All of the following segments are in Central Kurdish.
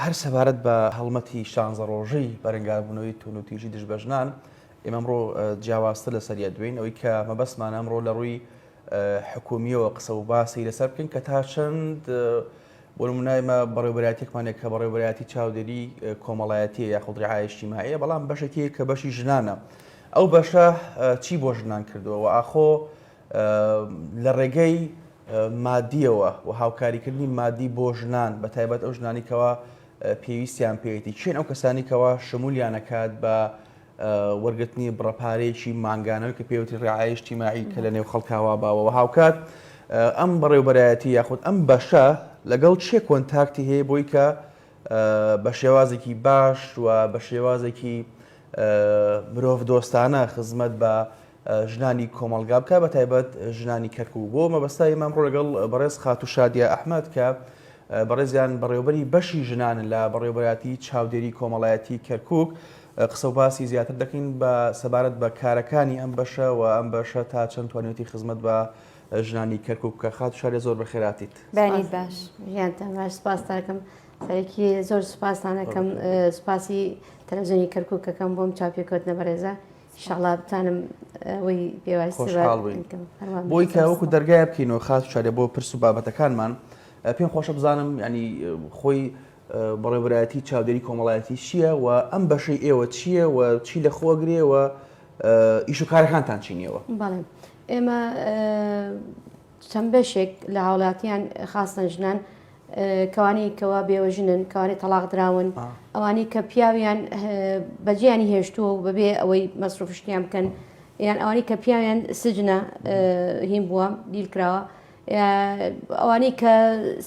هەر سەبارەت بە هەڵمەتی شانزە ڕۆژەی بەرەنگاربوونەوەی توونوتیژی دژ بە ژنان ئێمەڕۆ جیاوازتر لە سەریە دوێن ئەوەی کە مەبەستمان ئەمڕۆ لە ڕووی حکومیەوە قسە و باسی لەسەر بکەین کە تا چەند بۆ منایمە بەڕێبراتێکمانێک کە بەڕێبراتی چاودێری کۆمەڵایەتی یاخود ڕعاایشتی مایە بەڵام بەشێکی کە بەشی ژنانە ئەو بەشە چی بۆ ژنان کردووە و ئاخۆ لە ڕێگەی مادییەوە و هاوکاریکردنی مادی بۆ ژنان بە تایبەت ئەو ژنانی کەوا پێویستیان پێێتی چێن ئەو کەسانی کەوا شمولیانەکات بە وەرگرتنی بڕەپارێکی مانگانەوە کە پێوتی ڕعاایش تیماعی کە لە نێو خەڵکاوا باوەوە هاوکات ئەم بەڕێوبەرایەتی یاخود ئەم بەشە لەگەڵ چێ کۆنتاکتی هەیە بۆی کە بە شێوازێکی باش و بە شێوازێکی مرۆڤ دۆستانە خزمەت بە ژنانی کۆمەڵگا بکە بە تایبەت ژنانی کەرکوو بۆ مەبەستا ئێمە ئەمڕۆ لەگەڵ بەڕێز خاتوو شادیە ئەحمەد کە بەڕێزیان بەڕێوبەری بەشی ژنان لە بەڕێوبەراتی چاودێری کۆمەڵایەتی کەرکک قسە و باسی زیاتر دەکەین بە سەبارەت بە کارەکانی ئەم بەشە و ئەم بەشە تا چەند توانێتی خزمەت بە ژنانی کەرکک بکە خات شارێ زۆر بەخێراتیت باش باش سپاستاکەم سەرەکی زۆر سپاسانەکەم سپاسی تەلەزیۆنی کەرککەکەم بۆم چاپێکوت نەبەرێزە شڵا بتانم ئەوەی بۆی کە وەکو دەرگای بکەینەوە خاس شارێ بۆ پرس و بابەتەکانمان پێم خۆشە بزانم ینی خۆی بەڕێبراتی چاودێری کۆمەڵایەتی چییە و ئەم بەشەی ئێوە چییە و چی لە خۆگرێەوە ئیش و کارەکانتان چینیەوە بەڵێ ئێمە چەند بەشێک لە هاوڵاتیان خاستەن ژنان کەوانی کەوا بێوەژنن کەوانی تەلاق دراون ئەوانی کە پیاویان بەجیانی هێشتووە و بەبێ ئەوەی مەسروفشتیان بکەن یان ئەوانی کە پیاویان سجنە هیم بووە دیل کراوە ئەوانی کە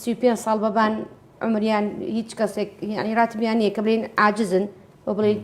سی پێ ساڵ بەبان عمریان هیچ کەسێک ینی راتبیان نیە کە بلین عجزن و بڵیت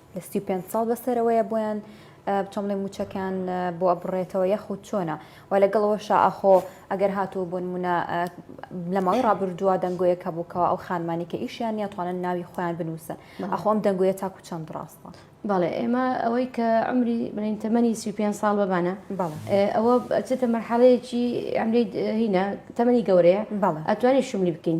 لە سی و پێنج ساڵ بەسەرەوەیە بۆیان بچۆم بڵێ موچەکان بۆ ئەبڕێتەوە یاخود چۆنە و لەگەڵ ئەوەشا ئاخۆ ئەگەر هاتوو بۆ نمونە لە ماوەی ڕابردووە دەنگۆیەک هەبووکەوە ئەو خانمانی کە ئیشیان نیاتوانن ناوی خۆیان بنووسن ئەخۆم دەنگۆیە تاکو چەند ڕاستە بەڵێ ئێمە ئەوەی کە ئەمری بڵین تەمەنی سی پێ ساڵ بەمانە ئەوە چێتە مەرحەڵەیەکی ئەمری هینە تەمەنی گەورەیە ئەتوانێت شملی بکەین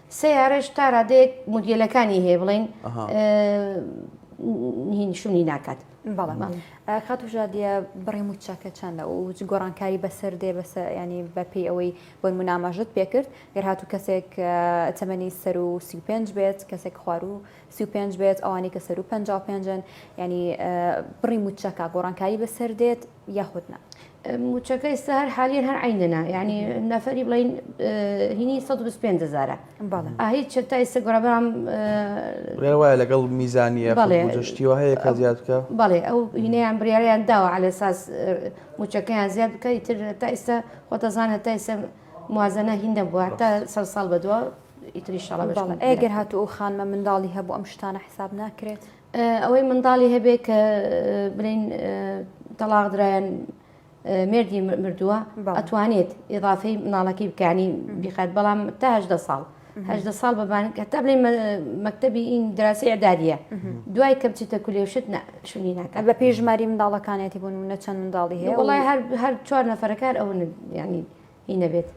سەیارەش تا رادەیەک مودیلەکانی هەیە بڵێن شونی ناکات بەڵام خاتوژادە بڕی موچەکە چەندە و گۆڕانکاری بەسەر دێ بەسە ینی بەپی ئەوەی بۆ مناماژت پێکرد گەر هاتوو کەسێک تەمەنی سەر و سی پێنج بێت کەسێک خوار و سی پێنج بێت ئەوانی کە سەر و پ پێنجن ینی بڕی موچەکە گۆڕانکاری بەسەر دێت یاخود نا. موچەکە ئیستا هەر حالیەن هەر عینەنە یعنی نەفەری بڵین هینی 125 هزارە ئاهی چە تا ئیستا گۆڕبام وایە لەگەڵ میزانیە بەڵێشتیوە هەیە کە زیاد بکە بەڵێ ئەو هینەیان بریاریان داوە على ساس موچەکەیان زیاد بکە تر تا ئیستا خۆتەزان هەتا ئیستا موازنە هیندە بووە تا سەر ساڵ بەدووە ئیتری شڵە ئەگەر هاتوو ئەو خانمە منداڵی هەبوو ئەم شتانە حساب ناکرێت ئەوەی منداڵی هەبێ کە بلین تەلاق درایەن مردی مردووە ئەتوانێت ئضافی مناڵەکەی بکانی بیخات بەڵام تاهدە ساڵ هەدە ساڵ بەبان کە تا بلین مەکتتەبی این دراسی عدادە دوای کەم چیتە کولێشت شوی ناکە بە پێی ژماری منداڵەکانێتی بوون و نەچەند منداڵی هەیە وڵای هەر چوار نەفرەکار ئەو ینی هی نەبێت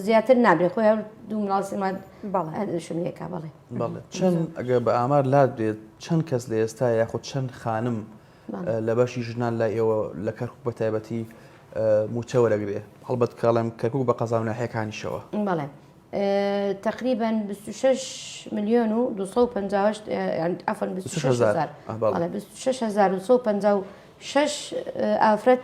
زیاتر نابێت خۆی هەر دوو مناڵ سێ مانگ بەڵێ. هەر شم لێکا بەڵێ بەڵێ چەند ئەگەر بە ئامار لات بێت چەند کەس لە ئێستا یاخود چەند خانم بەڵێ. اه، لە بەشی ژنان لای ئێوە لە کەرکوک بە تایبەتی اه، مووچە وەرەگرێ هەڵبەت کاڵێم کەرکوک بە قەزا و ناحیەکانیشەوە بەڵێ اه، تقریبا 26 ملیۆن و 258 اه، یان عەفەن 26 هەزار. هەزار اه، بەڵێ. بەڵێ 26 هەزار و 156 اه، ئافرەت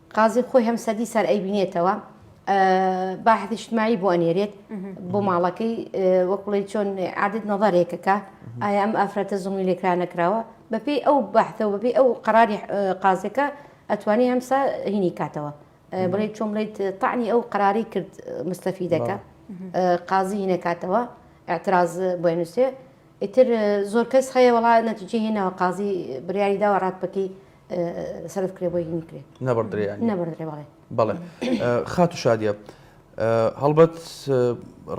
قازی خۆی هەم سەدی سەر ئەیبینێتەوە باحثی شتمایی بۆ ئەنێرێت بۆ ماڵەکەی وەک بڵێ چۆن عادت نەظارێکەکە ئایا ئەم ئافرەتە زڵمی لێکرا نەکراوە بەپی ئەو بەحتەوە بەبی ئەو قراری قازەکە ئەتوانی هەمسا هینی کاتەوە بڵێ چۆن بڵێت تاعنی ئەو قراری کرد مستەفی دەکە قازی هینەکاتەوە اعتراز بۆێ نووسێ ئیتر زۆر کەس هەیە وڵا نەتیجێ هێناوە قازی بریاری داوە ڕات بکەی سەرف کرێ بۆی نکرێ نەبڕدرێ نەبڕدرێ بەڵێ بەڵێ خات و شادە هەڵبەت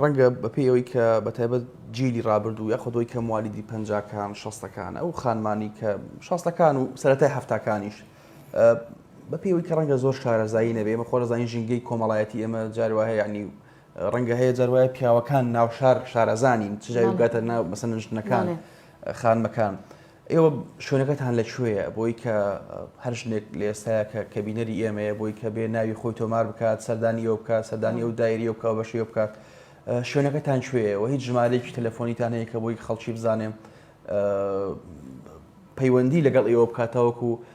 ڕەنگە بەپی ئەوەی کە بە تایبەت جیلی ڕابردوو یاخۆ دۆی کە موالیدی پەنجکان شەستەکان ئەو خانمانی کە شاستەکان و سەتای هەفتکانیش بە پێوەی کە ڕەنگە زۆر شارەزایی نەبێ مە خۆرەزانانی ژینگەی کۆمەڵایەتی ئێمە جاروە هەیە ینی ڕەنگە هەیە جاروایە پیاوەکان ناوشار شارەزانین چجاوی گاتە ناو مەسەنشتنەکان خانمەکان. ئێوە شوێنەکەتان لە کوێیە؟ بۆی کە هەر ژنێک لە ئێستایا کە کە بینەری ئێمەیە بۆی کە بێ ناوی خۆی تۆمار بکات سەردانی ئەو بکات سەردانی ئەو دایری ئەو بکە و بەشی ئەو بکات ئە، شوێنەکەتان کوێیە و هیچ ژمارەیەکی تەلەفۆنیتان هەیە کە بۆی خەڵکی بزانێ ئە، پەیوەندی لەگەڵ ئێوە بکات تاوەکو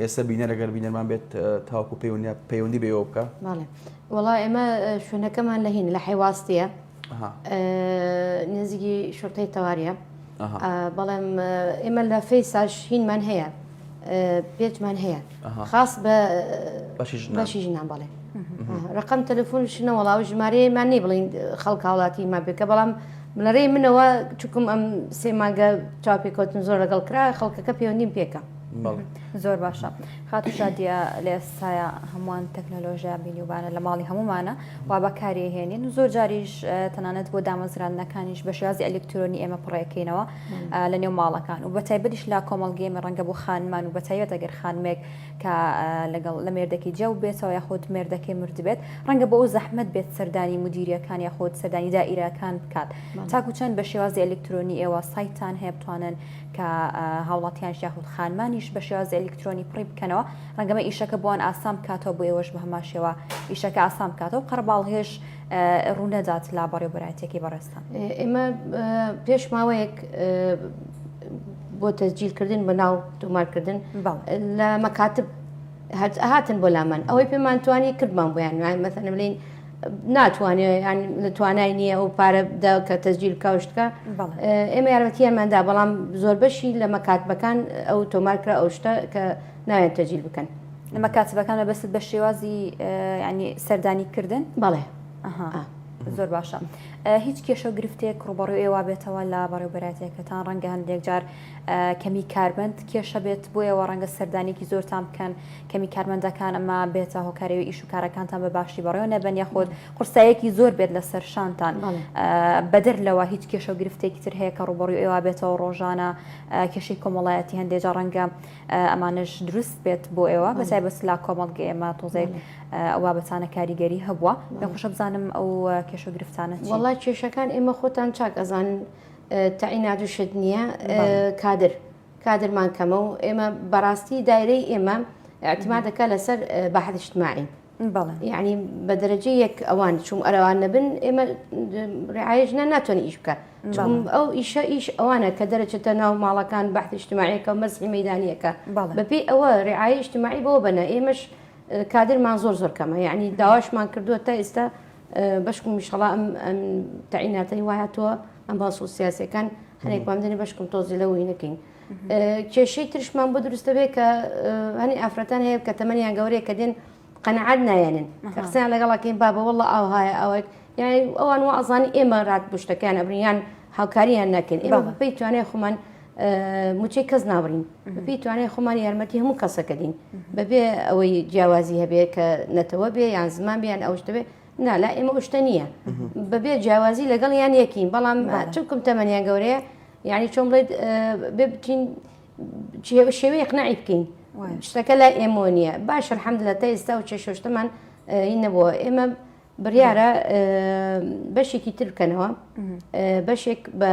ئێستا بینەر ئەگەر بینەرمان بێت تاوەکو پەیوەندی پەیوەندی بەوە بکە وڵا ئێمە شوێنەکەمان لە هین لە حیواستە نزیکی شرتەی تەواریە بەڵێم ئێمە لە فەیساش هینمان هەیە پێچمان هەیە خاص بە بەشی ژنان بەڵێ ڕقم تەلفۆن شنە وڵا و ژمارەیەمان نی بڵین خەڵک هاوڵاتی ما بێکە بەڵام لەڕێی منەوە چکم ئەم سێماگە چاپێکوتن زۆر لەگەڵ کرا خەڵکەکە پەیوەندیم پێکە زۆر باشە خاتو شادیە لە ئێستاە هەمووان تەکنەلۆژیا بینیوبانە لە ماڵی هەمومانە و بەکاری هێنین و زۆر جاریش تەنانەت بۆ دامەزراندنەکانیش بە شێازی ئەلکترۆنی ئێمە پڕێکەینەوە لە نێو ماڵەکان و بەتایبەتیش لا کۆمەڵگەێمە ڕەنگە بۆ خانمان و بەتایبەت ئەگەر خانمێک کە لەگەڵ لە مێردەکی جەو بێتەوە یاخود مێردەکەی مرد بێت ڕەنگە بۆ ئەو زەحمت بێت سەردانی مدیریەکان یاخود سەردانی دائیرەکان بکات تاکو چەند بە شێوازی ئەلکترۆنی ئێوە سایتان هەیە بتوانن کە هاوڵاتیانش یاخود خانمانیش بە شێوازی ئەلیکترۆنی پڕی بکەنەوە ڕەنگەمە ئیشەکە بۆن ئاسان بکاتەوە بۆ ئێوەش بە هەمان شێوە ئیشەکە ئاسان بکاتەوە قەرباڵهێش ڕوونەدات لا بەڕێبەرایەتەکەی بەڕێستان ئێمە پێش ماوەیەک بۆ تەجیلکردن بە ناو تۆمارکردن لە مەکاتب هاتن بۆ لامان ئەوەی پێمان توانی کردمان بۆیان مەسەنە بلین ناتوانێت یان لە توانای نییە ئەو پارە دا کە تەزجیل کاوشتکە بەڵێ. ئێمە یارمەتیەماندا بەڵام زۆر بەشی لە مەکاتبەکان ئەو تۆمارکرا ئەو شتە کە ناوێن تەجیل بکەن ئەمە کاتبەکانە بەست بە شێوازی ئه، ینی سەردانی کردن بەڵێ ئەها آه. زۆر باشە ئه، هیچ کێشە و گرفتێک ڕوبەڕوی ئێوە بێتەوە لە بەڕێوبەراتیەکەتان ڕەنگە هەندێک جار ئه، کەمی کارمەند کێشە بێت بۆ ئێوە ڕەنگە سەردانێکی زۆرتان بکەن کەمی کارمەندەکان ئەمە بێتە هۆکارەوەی ئیش و کارەکانتان بە باشی بەڕێوە نەبن یاخود قورسایەکی زۆر بێت لەسەر شانتان بەدەر لەوە هیچ کێشە و گرفتێکی تر هەیە کە ڕوبڕی ئێوە بێتەوە ڕۆژانە کێشەی کۆمەڵایەتی هەندێک جا ڕەنگە ئەمانش دروست بێت بۆ ئێوە بەسای بەس لا کۆمەڵگە ئێمە تۆزێک ئەوە بەتانە کاریگەری هەبووە لە خوشە بزانم ئەو کێشە و گرفتانە وڵا کێشەکان ئێمە خۆتان چاک ئەزانن تەعینات و شت نییە کادر. کادرمان کەمە و ئێمە بەڕاستی دایرەی ئێمە ئەتمادەکە لەسەر بەحدشتماعین یعنی بە دەرەجە یەک ئەوان چوم ئەرەوان نەبن ئێمە ڕعاەژنە ناتوانێت ئیش بکە ئەو ئیشە ئیش ئەوانە کە دەرەچێتە ناو ماڵەکان بەحدشتماعیەکە و مەزحی مەدانیەکە بەپی ئەوە ڕعاەشتماعی بۆ بەنە ئێمەش کادرمان زۆر زۆر کەمە یعنی داواشمان کردووە تا ئێستا بەشکم میشەڵام تەعیناتەی وایە تۆ ئەم باسۆ سیاسەکان هەنێک بەم دەنێ بەشکم تۆزی لە وی نەکەین کێشەی ترشمان بۆ دروستە بێ کە هەنی ئافرەتان هەیە کە تەمەنیان گەورەیە کە دێن قەنەعات نایەنن قسەیان لەگەڵاکەین بابە وەڵە ئاو هاە ئەوەک یعنی ئەوان و ئەزانی ئێمە رات بشتەکەیان ئەبنیان هاوکاریان ناکەین ئێمە بەپی توانای خۆمان موچەی کەس ناوڕین بەپی توانای خۆمان یارمەتی هەموو کەسەکە دین بەبێ ئەوەی جیاوازی هەبێ کە نەتەوە بێ یان زمان بیان ئەوشتەبێ نا لا ئێمە ئوشتە نییە بەبێ جیاوازی لەگەڵ یان یەکین بەڵام چونکم تەمەنیان گەورەیە یعنی چۆن بڵێت ببچین شێوەی قنەعی بکەین شتەکە لای ئێمۆ نییە باش حەمد لە تا ئێستا و چێ شۆشتمان هی نەبووە ئێمە بڕیارە بەشێکی تر بکەنەوە بەشێک بە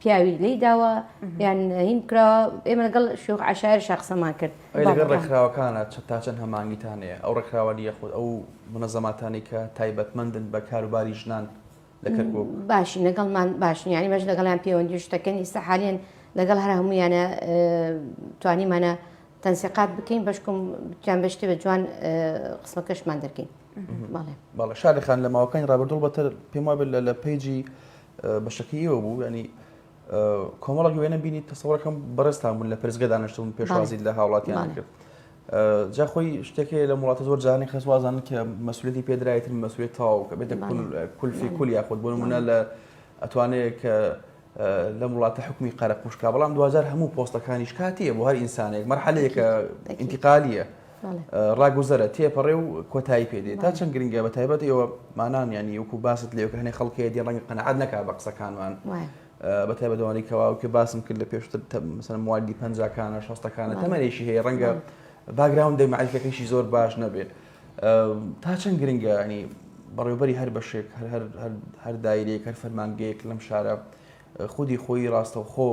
پیاوی لێی داوە یان هین کراوە ئێمە لەگەڵ شوخ عشاعر شخصەمان کرد لەگەڵ ڕێکخراوەکانە چە تا چەند هەمانگیتانەیە ئەو ڕێکخراوە دیە خۆت ئەو منە زەماتانی کە تایبەتمەندن بە کاروباری ژنان لە کەرکک باشی لەگەڵمان باشن ینی بەش لەگەڵیان پەیوەندی شتەکەن ئیستا حالیان لەگەڵ هەر هەمویانە توانیمانە تەنسیقات بکەین بەشکم جان بەشتی بە جوان قسمەکەشمان دەکەین بەڵێ بەڵە شارەخان لە ماوەکانی ڕابردوڵ بەتر پێم وابێت لە لە پیجی بەشەکەی ئێوە بوو ینی کۆمەڵک وێنە بینی تەسەڕەکەم بەڕێستان بوون لە پرزگە دانیشتون پێشوازی لە هاوڵاتیان کرد جا خۆی شتێکی لە وڵاتە زۆر جانانی خەسوازان کە مەسولەتی پێدرایتن مەسوێت تاو کە بێتە کولفی کول یاخود بۆ منە لە ئەتوانەیە کە لەم وڵاتە حکومی قەرە قوشکا بەڵام دوجار هەموو پۆستەکانیش کاتیە بۆ هەر ئینسانێک مەرحەلەیەکە ئینتیقالیە ڕاگوزەرە، تێپەڕێ و کۆتایی پێ دێ. تا چەند گرنگە، بەتایبەت ئێوە مانان یانی وەکو باست لێوکە هەنێ خەڵک هەیە دێ ڕەنگە قەناعەت نەکا بە قسەکانمان. بەتایبەت ئەوانەی کە واوکێ باسم کرد لە پێشتر مەسەلەن موالیدی پەنجاکانە شەستەکانە تەمەنێکی هەیە ڕەنگە باگراوندی مەعریفیەکەیشی زۆر باش نەبێ. تا چەند گرنگە ینی بەڕێوبەری هەر بەشێک هەر دایرێک هەر فەرمانگەیەک لەم شارە خودی خۆی ڕاستەوخۆ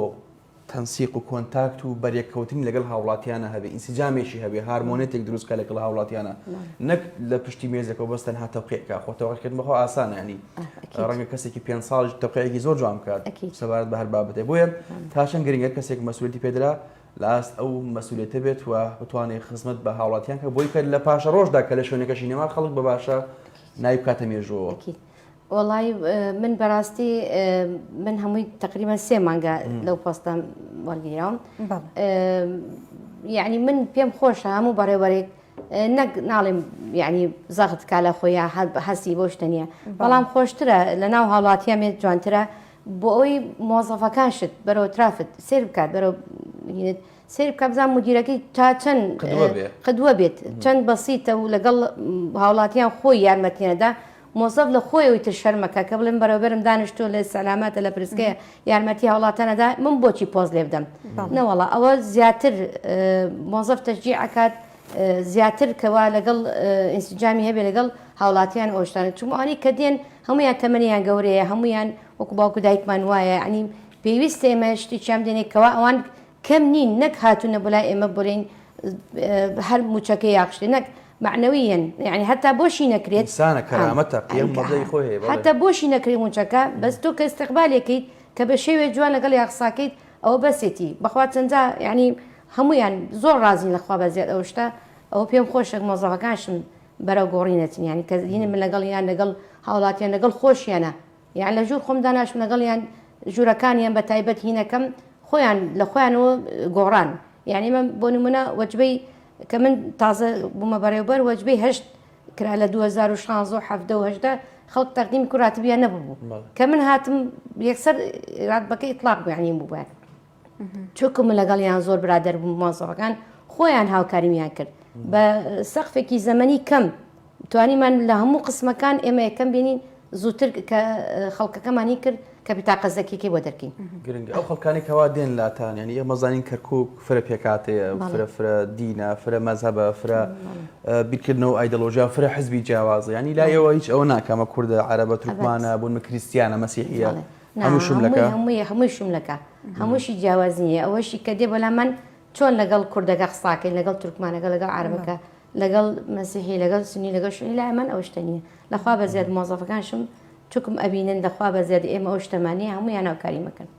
تەنسیق و کۆنتاکت و بەرێککەوتنی لەگەڵ هاوڵاتیانە هەبێ، ئینسجامێکی هەبێ، هارمۆنێتێک دروست بکا لەگەڵ هاوڵاتیانە، نەک لە پشتی مێزێکەوە بەس تەنها تەوقیع کا، خۆ تەوقیعکردن بەخۆ ئاسانە، یانی ڕەنگە کەسێکی پێنج ساڵیش تەوقیعێکی زۆر جوان بکات سەبارەت بە هەر بابەتێک، بۆیە تا چەند گرنگە کەسێک مەسوولییەتی پێ درا لە ئاست ئەو مەسوولییەتە بێت و بتوانێ خزمەت بە هاوڵاتیان کە بۆی کە لە پاشەڕۆژدا کە لە شوێنەکەشی نەما خەڵک بە باشە ناوی بکاتە مێژووەوە. وەڵای من بەراستی من هەمووی تقریبا سێ مانگە لەو پۆستەم وەرگیرام یعنی من پێم خۆشە هەموو بەڕێوەرێک نەک ناڵێم یعنی زەخت کا لە خۆیان هەر هەستی بۆ شتە نیە بەڵام خۆشترە لە ناو هاوڵاتیان مێت جوانترە بۆ ئەوی مۆزەفەکان شت بەرەوە ترافت سێر بکات بەرەوە سیر بکە بزان مدیرەکەی تا چەند قدوە بێت چەند بەسیتە و لەگەڵ هاوڵاتیان خۆی یارمەتیانەدا مۆسەف لە خۆیەوەی تر شەرمەکە کە بڵێم بەرەوبەرم دانیشتوە لە سەلاماتە لە پرسکەیە یارمەتی هاوڵاتە نەدا من بۆچی پۆز لێ بدەم نەوەڵا ئەوە زیاتر مۆزەف تەجی ئەکات زیاتر کەوا لەگەڵ ئینسجامی هەبێ لەگەڵ هاوڵاتیان ئۆشتان چمانی کە دێن هەمویان تەمەنیان گەورەیە هەمویان وەکو باوکو دایکمان وایە ئەنی پێویست ئێمە شتێکیان دێنێکەوە ئەوان کەم نین نەک هاتونە بۆ لای ئێمە بۆلین هەر موچەکە یاخشتێ نەک مەعنەویەن یانی هەتا بۆشی نەکرێت ئینسانە کەرامەتە قیەم مەزەی خۆی هەیە بەڵێ هەتا بۆشی نەکرێ موچەکە بەس تۆ کە ئیستیقبالێکەیت کە بە شێوێ جوان لەگەڵ یاقساکەیت ئەوە بەسێتی بەخوا چەنجا یانی هەموویان زۆر ڕازین لە خوا بەزیاد ئەو شتە ئەوە پێم خۆشە مۆزەفەکانشم بەرەو گۆڕینەچن یانی کە دینە من لەگەڵ یان لەگەڵ هاوڵاتیان لەگەڵ خۆشیانە یان لە ژوور خۆم داناشم لەگەڵ یان ژوورەکانیان بە تایبەت هینەکەم خۆیان لە خۆیانەوە گۆڕان یعنی من بۆ نمونە وەجبەی کە من تازە بوومە بەڕێوبەر وەجبەی هەشت کرا لە 2016 خەڵک تەقدیم کوڕاتبیان نەبوو کە من هاتم یەکسەر راتبەکە ئیطلاق بەیانیم بووە چونکە من لەگەڵیان زۆر برادر بووم مۆزەوەکان خۆیان هاوکاریمیان کرد بە سەقفێکی زەمەنی کەم توانیمان لە هەموو قسمەکان ئێمە یەکەم بینین زووتر کە خەڵکەکەمانی کرد کە بتاقە زەکیەکەی بۆ دەرکەین گرنگ ئەو خەڵکانی کەوا دێن لاتان ینی ئێمە زانین کەرکک فرە پێکاتەیە فرە فرە دینە فرە مەزهبە فرە بیرکردنەوە ئایدەلۆژیا فرە حزبی جیاوازە ینی لایەوە هیچ ئەوە ناکەمە کووردە عربە ترکمانە بوون کریسیانە مەسیحە نا هەموو شوملەکە؟ هەمووی هەمووی هەمووی شوملەکە هەمووشی جیاواز نییە ئەوەشی کە دێ بەلام من چۆن لەگەڵ کوردەکە قساکەین لەگەڵ تورکمانەکە لەگەڵ عربەکە لەگەڵ مەسیحی لەگەڵ سنی لەگەڵ شوی لای من ئەو شتە نییە لەخوا بە زیاد مۆزەفەکانشم چکم ئەبینن دەخوا بە زیاد ئێمە ئەو شتەمانەیە هەموویان ناوکاری مەکەن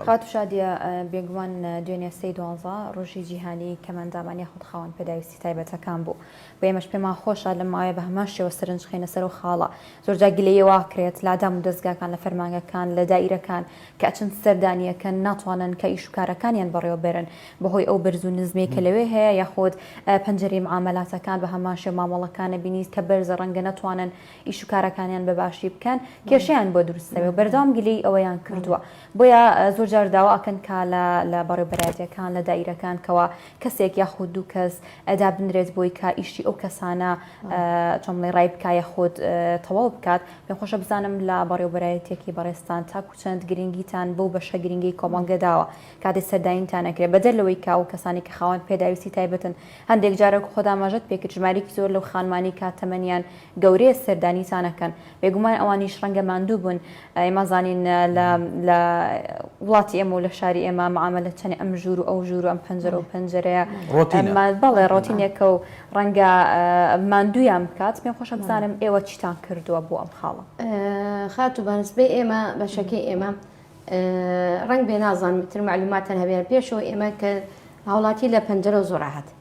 خات شادە بێگومان دوێنێ سەی دوانزە ڕۆژی جیهانی کەمەندامان یاخود خاوەن پێداویستی تایبەتەکان بوو و ئێمەش پێمان خۆشە لەم ماوەیە بە هەمان شێوە سەرنج خەینە سەر ئەو خاڵە. زۆرجار گلەیی وا ئەکرێت لە دامودەزگاکان، لە فەرمانگەکان، لە دائیرەکان کە ئەچن سەردانی ئەکەن ناتوانن کە ئیش و کارەکانیان بەڕێوە بەرن بە هۆی ئەو بەرز و نزمەی کە لەوێ هەیە یاخود پەنجەرەی معامەلاتەکان بە هەمان شێوە مامەڵەکان ئەبینیت کە بەرزە ڕەنگە نەتوانن ئیش و کارەکانیان بە باشی بکەن کێشەیان بۆ دروست دەبێ و بەردەوام گلەیی ئەوەیان کردووە بۆیە زۆرجار داوا ئەکەن کە لە لە بەڕێوەبەرایەتیەکان لە دائیرەکان کەوا کەسێک یاخود دوو کەس دابنرێت بۆی کە ئیشی ئەو کەسانە چۆن بڵێ ڕای بکایە خۆت تەواو بکات پێم خۆشە بزانم لە بەڕێوبەرایەتێکی بەڕێستان تاکو چەند گرنگیتان بەو بەشە گرنگی کۆمەڵگە داوە کاتی سەرداینتان نەکرێت بەدەر لەوەی کاو کەسانی کە خاوەن پێداویستی تایبەتن هەندێک جارەک خۆداماژەت پێکرد ژمارێکی زۆر لەو خانمانی کاتەمەنیان گەورەیە سەردانیتانەکەن بێگومان ئەوانیش ڕەنگە ماندوو بوون، ئێمە زانین لە لە وڵاتی ئێمە و لە شاری ئێمە معامەلە چەنێ ئەم ژوور و ئەو ژوور و ئەم پەنجەرە و پەنجەرەیە ڕۆتینە ئەم بەڵێ ڕۆتینێکە و ڕەنگە ماندوویان بکات، پێم خۆشە بزانم ئێوە چیتان کردووە بۆ ئەم خاڵە؟ خاتوو بە نسبەی ئێمە بەشەکەی ئێمە ڕەنگبێ نازانم ئیتر مەعلووماتتان هەبێ، پێشەوە ئێمە کە هاوڵاتی لە پەنجەرەوە زۆر ڕاحەت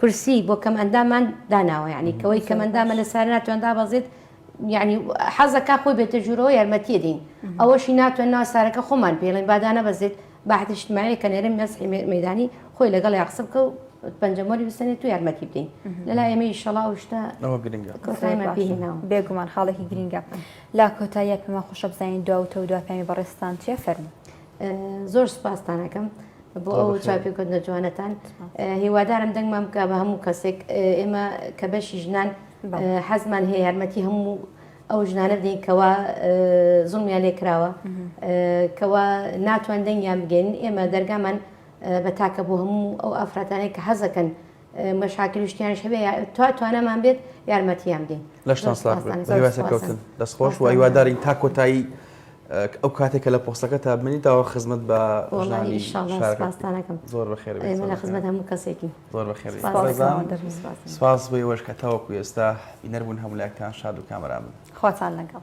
کورسی بۆ کەم ئەندامان داناوە یعنی کەوەی کەم ئەندامە لە سارە ناتوان دابەزێت یعنی حەزەکە خۆی بێتە ژوورەوە یارمەتیە دین ئەوەشی ناتوان ناو سارەکە خۆمان پێڵێن بادانە بەزێت باحتیشتماعی کە نێرم مەسحی مەدانی خۆی لەگەڵ یا قسە بکە و پەنجەمۆری بسەنێت و یارمەتی بدەین لەلا ئێمەی شەڵا و شتە بێگومان خاڵێکی گرینگە لا کۆتاییە پێما خۆشە بزانین دواوتە و دواپیانی بەڕێستان چیە فەرمو زۆر سوپاستان ئەکەم بۆ ئەو چاپیکردنە جوانەتان هیوادارم دەنگمان بکە بە هەموو کەسێک ئێمە کە بەشی ژنان حەزمان هەیە یارمەتی هەموو ئەو ژنانە بدەین کەوا زڵمیان لێ کراوە کەوا ناتوان دەنگیان بگەین ئێمە دەرگامان بە تاکە بۆ هەموو ئەو ئافرەتانێک کە حەزەکەن مەشاکل شتیانش هەبێ تا توانامان بێت یارمەتیان بدەین لەشتان سلاح هیواسەکەوتن دەستخۆش و هیوادارین تا کۆتایی ئەو کاتێکە لە پۆستەکە تا بمنی داوە خزمەت بە ژنانی شارستانەکەم زۆر بەخێر لە خزمەت هەموو کەسێکی زۆر بەخێر سپاس بۆی وەش کە تاوەکو ئێستا بینەربوون هەمولاکتان شاد و کامران خواتان لەگەڵ